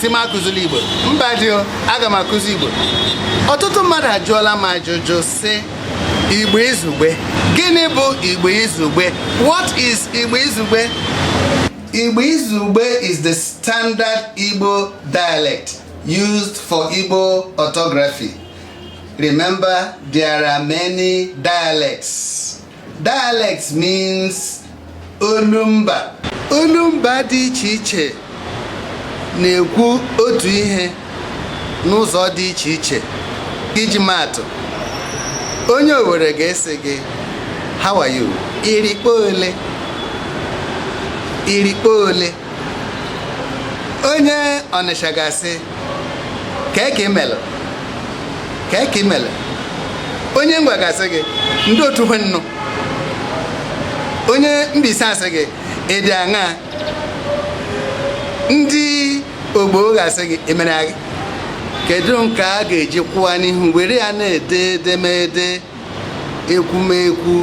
sị m akụzila igbo mba dị o aga m akụzi igbo ọtụtụ mmadụ ajụọla m ajụjụ sị igbo izugbe gịnị bụ igbo izugbe what is igbo izugbe igbo izugbe is the standard igbo dialect used for igbo orthography remember there are many dialects Dialect means olumba. Olumba dị iche iche na-ekwu otu ihe n'ụzọ dị iche iche. Iji maatụ, onye Owere ga-asị gị how are you? Irikpo ole? Irikpo ole? onye ọnịsha ga-asị kee ka i melu kee ka i melu onye ngwa ga-asị gị ndị otu hwe nnụ onye Mbaise asị gị ị dị aṅaa ndị ogbo ga-asị gị i mere agị kedu nke a ga-eji kwụwa n'ihu were ya na-ede edemede ekwumekwu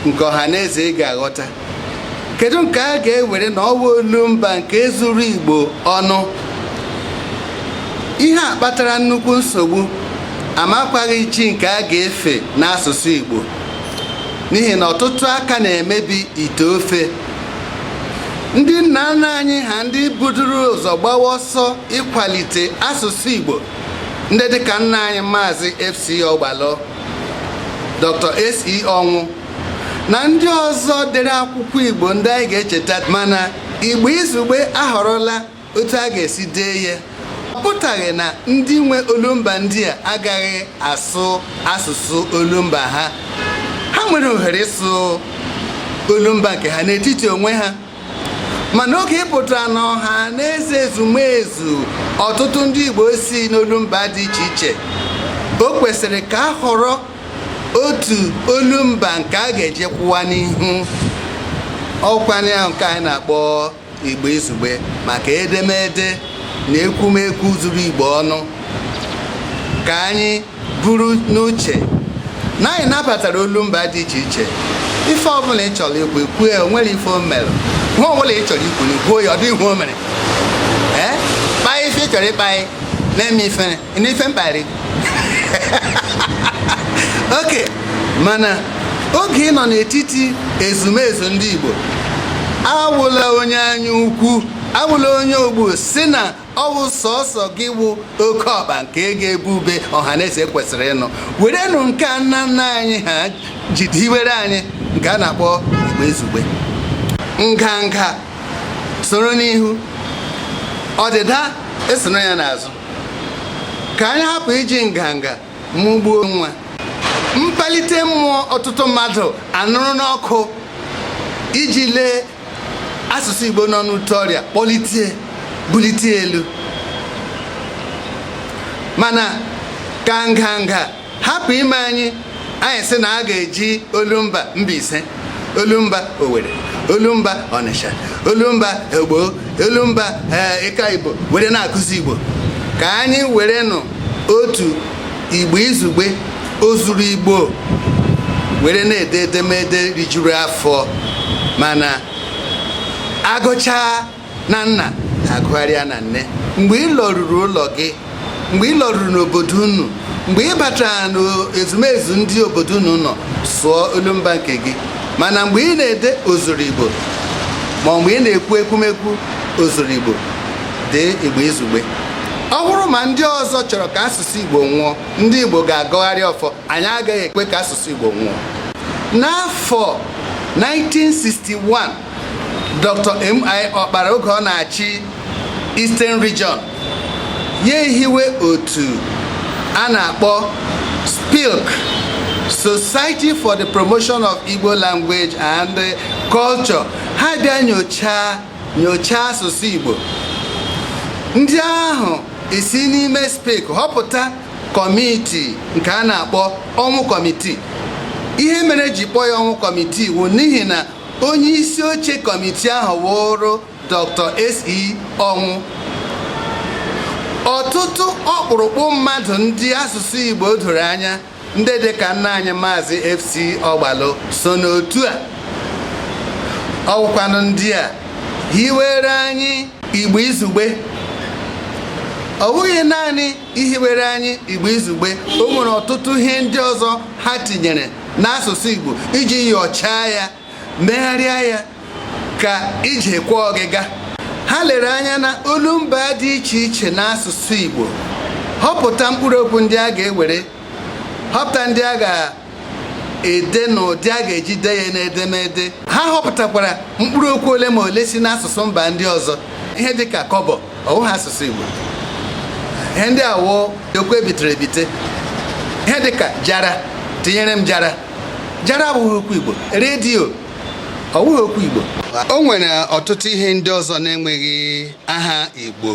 nke ọha na eze ị ga-aghọta kedu nke a ga-ewere na ọ wụ olumba nke zuru igbo ọnụ ihe a kpatara nnukwu nsogbu amakwaghị chi nke a ga-efe n'asụsụ igbo n'ihi na ọtụtụ aka na-emebi ite ofe ndị nna nna anyị ha ndị buduru ụzọ gbawa ọsọ ịkwalite asụsụ igbo ndị dịka nna anyị maazị FC Ọgbalụ Dr. SE Ọnwụ na ndị ọzọ dere akwụkwọ Igbo ndị anyị ga-echeta mana Igbo Izugbe ahọrọla otu a ga-esi dee ya ọ pụtaghị na ndị nwe olumba ndị a agaghị asụ asụsụ olumba ha ha nwere ohere ịsụ olumba nke ha n'etiti onwe ha mana oge ị pụtara n'ọha na eze ezumezu ọtụtụ ndị Igbo si n'olumba dị iche iche o kwesịrị ka a họrọ otu olumba nke a ga-eji kwụwa n'ihu ọ wụkwanụ ya wụ nke anyị na-akpọ Igbo izugbe maka edemede na ekwumekwu zuru Igbo ọnụ ka anyị buru n'uche na anyị nabatara olumba dị iche iche ife ọbụla ị chọrọ ikwu i kwuo ya o nwerọ ife o mere nwa ọbụla ị chọrọ ikwu na i kwuo ya ọ dịghị ihe o mere ee kpaa ife ị chọrọ ịkpa anyị na-eme ife na ife mkparị okay mana oge ị nọ n'etiti ezumezu ndị Igbo awụla onye anya ukwu awụla onye ogbu si na ọ wụ sọsọ gị wụ oke ọkpa nke ga-ebe ube ọhaneze kwesịrị ịnụ werenụ nke a nna nna anyị ha jide hiwere anyị nke a na-akpọ igbo izugbe nganga soro n'ihu ọdịda esoro ya n'azụ ka anyị hapụ iji nganga mụgbuo nwa mkpalite mmụọ ọtụtụ mmadụ anụrụ n'ọkụ iji lee asụsụ Igbo nọ n'ute ọrịa kpọlitie bulite elu mana ka nganga hapụ ime anyị anyị sị na a ga-eji olumba Mbaise olumba Owerri olumba Ọnịsha olumba Agbọ olumba eh, Ịka Igbo were na-akụzi Igbo ka anyị werenụ otu igbo izugbe ozuru igbo were na-ede edemede rijuru afọ mana a gụchaa na nna a gụgharịa na nne mgbe ị lọruru ụlọ gị mgbe ị lọruru n'obodo unu mgbe ị batara n'ezumezu ndị obodo unu nọ sụọ olumba nke gị mana mgbe ị na-ede ozuru igbo ma mgbe ị na-ekwu ekwumekwu ozuru igbo dee Igbo izugbe ọ wụrụ ma ndị ọzọ chọrọ ka asụsụ Igbo nwụọ ndị Igbo ga-agọgharị ọfọ anyị agaghị ekwe ka asụsụ Igbo nwụọ n'afọ 1961 Dr. M.I. Ọkpara oge ọ na-achị Eastern Region ya ehiwe otu a na-akpọ SPILC Society for the Promotion of Igbo Language and Culture ha bịa nyochaa nyochaa asụsụ Igbo ndị ahụ esi n'ime SPILC họpụta kọmitii nke a na-akpọ ọnwụ kọmitii ihe mere e ji kpọọ ya ọnwụ kọmitii wụ n'ihi na onye isi oche kọmitii ahụ wụrụ Dr. SE ọnwụ ọtụtụ ọkpụrụkpụ mmadụ ndị asụsụ Igbo doro anya ndị dị ka nna anyị maazị FC Ọgbalụ so n'otu a ọ wụkwanụ ndị a hiwere anyị Igbo Izugbe ọ wụghị naanị ihiwere anyị Igbo Izugbe o nwere ọtụtụ ihe ndị ọzọ ha tinyere n'asụsụ Igbo iji yọchaa ya megharịa ya ka e jikwa oge aga ha lere anya na olumba dị iche iche n'asụsụ Igbo họpụta mkpụrụ okwu ndị a ga-ewere họpụta ndị a ga-ede na ụdị a ga-eji dee ya n'edemede ha họpụtakwara mkpụrụ okwu ole ma ole si n'asụsụ mba ndị ọzọ ihe dịka kọbọ ọ wụghị asụsụ Igbo ihe ndị a wụ okwu e bitere ebite ihe dịka jara tinyere m jara jara abụghị okwu igbo redio ọ wụghị okwu igbo o nwere ọtụtụ ihe ndị ọzọ na-enweghị aha igbo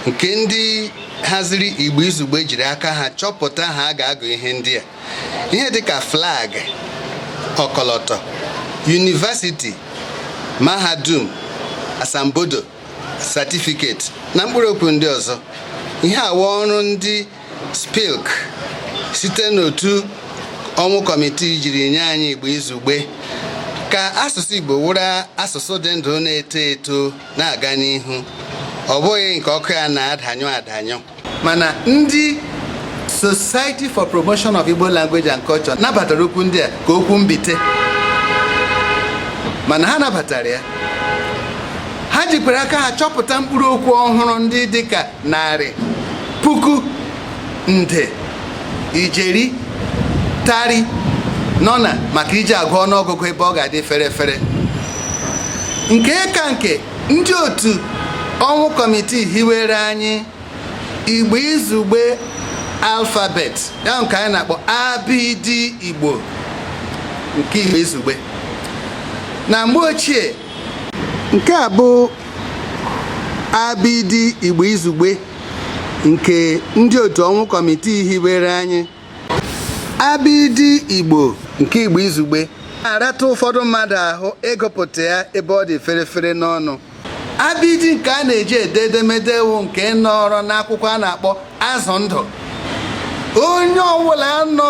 nke ndị haziri igbo izugbe jiri aka ha chọpụta aha a ga-agụ ihe ndị a ihe dịka flag ọkọlọtọ yunivasiti mahadum asambodo satifiketi na mkpụrụ okwu ndị ọzọ ihe a wụ ọrụ ndị SPILC site n'otu Ọnwụ kọmitii jiri nye anyị Igbo izugbe ka asụsụ Igbo wụrụ asụsụ dị ndụ na-eto eto na-aga n'ihu ọ bụghị nke ọkụ ya na-adanyụ adanyụ mana ndị Society for Promotion of Igbo Language and Culture nabatara okwu ndị a ka okwu mbite mana ha nabatara ya ha jikwara aka ha chọpụta mkpụrụ okwu ọhụrụ ndị dịka narị puku nde ijeri tari nọ na maka iji agụ ọnụọgụgụ ebe ọ ga-adị fere fere nke ka nke ndị otu ọnwụ kọmitii hiwere anyị igbo izugbe alfabet ya nke anyị na-akpọ abịdị igbo nke igbo izugbe na mgbe ochie nke a bụ abidi igbo izugbe nke ndị otu ọnwụ kọmitii hiwere anyị abidi igbo nke igbo izugbe na-arata ụfọdụ mmadụ ahụ ịgụpụta ya ebe ọ dị ferefere n'ọnụ abidi nke a na-eji ede edemede wụ nke nọrọ n'akwụkwọ a na-akpọ azụ ndụ onye ọbụla nọ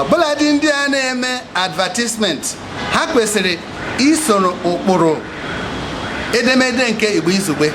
ọbụladị ndị a na-eme advertisement ha kwesịrị isoro ụkpụrụ edemede nke Igbo Izugbe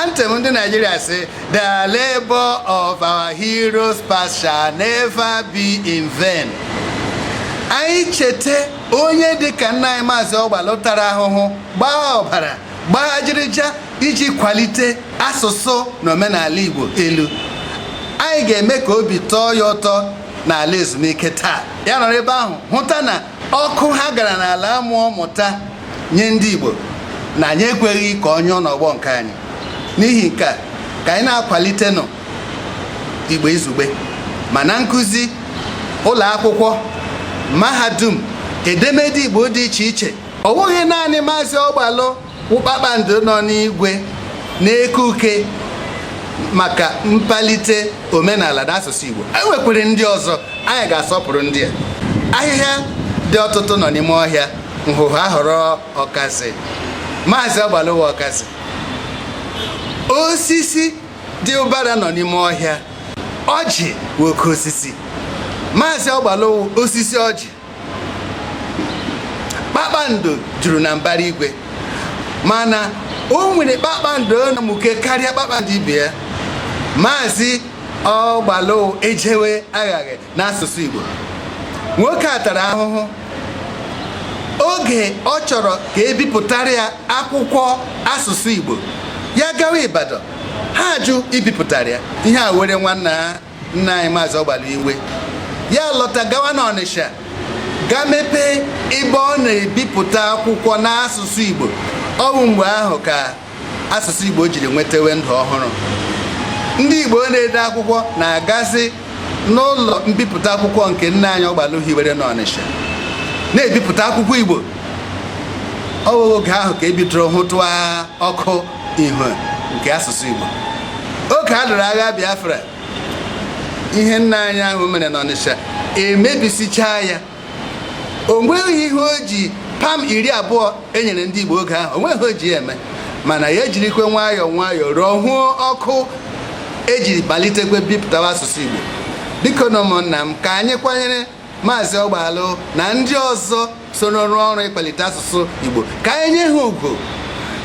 anthem ndị Naịjirịa sị the labor of our heroes past shall never be in vain anyị cheta onye dịka nna anyị maazị Ọgbalụ tara ahụhụ gbaa ọbara gbaa ajịrịja iji kwalite asụsụ na omenala Igbo elu anyị ga-eme ka obi tọọ ya ụtọ n'ala ezumike taa ya nọrọ ebe ahụ hụta na ọkụ ha gara n'ala mmụọ mụta nye ndị Igbo na anyị ekweghị ka ọ nyụọ n'ọgbọ nke anyị n'ihi nke a ka anyị na-akwalitenụ Igbo izugbe ma na nkụzi ụlọ akwụkwọ mahadum edemede Igbo dị iche iche ọ bụghị naanị maazị Ọgbalụ wụ kpakpando nọ n'igwe na-eke uke maka mpalite omenala na asụsụ Igbo e nwekwere ndị ọzọ anyị ga-asọpụrụ ndị a ahịhịa dị ọtụtụ nọ n'ime ọhịa nhụhụ a họrọ ọkazị maazị Ọgbalụ wụ ọkazị osisi dị ụbara nọ n'ime ọhịa ọjị wụ oke osisi maazị Ọgbalụ wụ osisi ọjị kpakpando juru na mbara igwe mana o nwere kpakpando na-amụke karịa kpakpando ibe ya maazị ọgbalụ ejewe aghaghị n'asụsụ Igbo nwoke a tara ahụhụ oge ọ chọrọ ka ebipụtara ya akwụkwọ asụsụ Igbo ya gawa Ibadan ha ajụ ibipụtara ya ihe a were nwanna nna anyị maazị ọgbalụ iwe ya lọta gawa n'ọnịsha gaa mepee ebe ọ na-ebipụta akwụkwọ n'asụsụ igbo ọ bụ mgbe ahụ ka asụsụ igbo jiri nwetawe ndụ ọhụrụ ndị igbo na-ede akwụkwọ na-agazi n'ụlọ mbipụta akwụkwọ nke nna anyị ọgbalụ hiwere n'ọnịsha na-ebipụta akwụkwọ igbo ọ wụ oge ahụ ka ebidoro hụtụa ọkụ ihu nke asụsụ Igbo oge a lụrụ agha Biafra ihe nna anyị ahụ mere n'Ọnịsha emebisichaa ya o nweghị ihe o ji pam iri abụọ enyere ndị Igbo oge ahụ o nweghị o ji eme mana ya ejirikwe nwayọọ nwayọọ rụọ hụọ ọkụ eji malitekwe bipụtawa asụsụ Igbo biko nụ ụmụnna m ka anyị kwanyere maazị ọgbalụ na ndị ọzọ soro rụọ ọrụ ịkwalite asụsụ Igbo ka anyị nye ha ugwu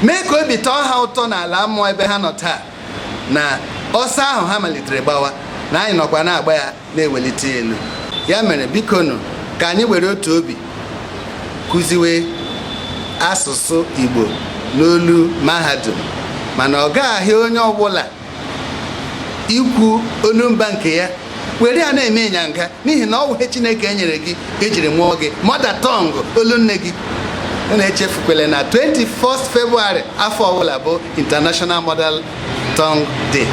mee ka obi tọọ ha ụtọ n'ala mmụọ ebe ha nọ taa na ọsọ ahụ ha malitere gbawa na anyị nọkwa na-agba ya na-ewelite ya elu ya mere biko nụ ka anyị were otu obi kụziwe asụsụ Igbo n'olu mahadum mana ọ gaghị onye ọbụla ikwu olumba nke ya were ya na-eme ịnyanga n'ihi na ọ wụ ihe chineke nyere gị ejiri mụọ gị mother tongue olu nne gị na-echefukwele na 21st February afọ ọbụla bụ International Mother Tongue Day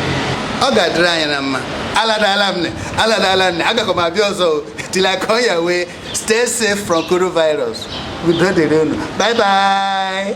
ọ ga-adịrị anyị na mma aladala m aladala m agakọ m abịa ọzọ till I come your way stay safe from coronavirus udo dịrị unu bye bye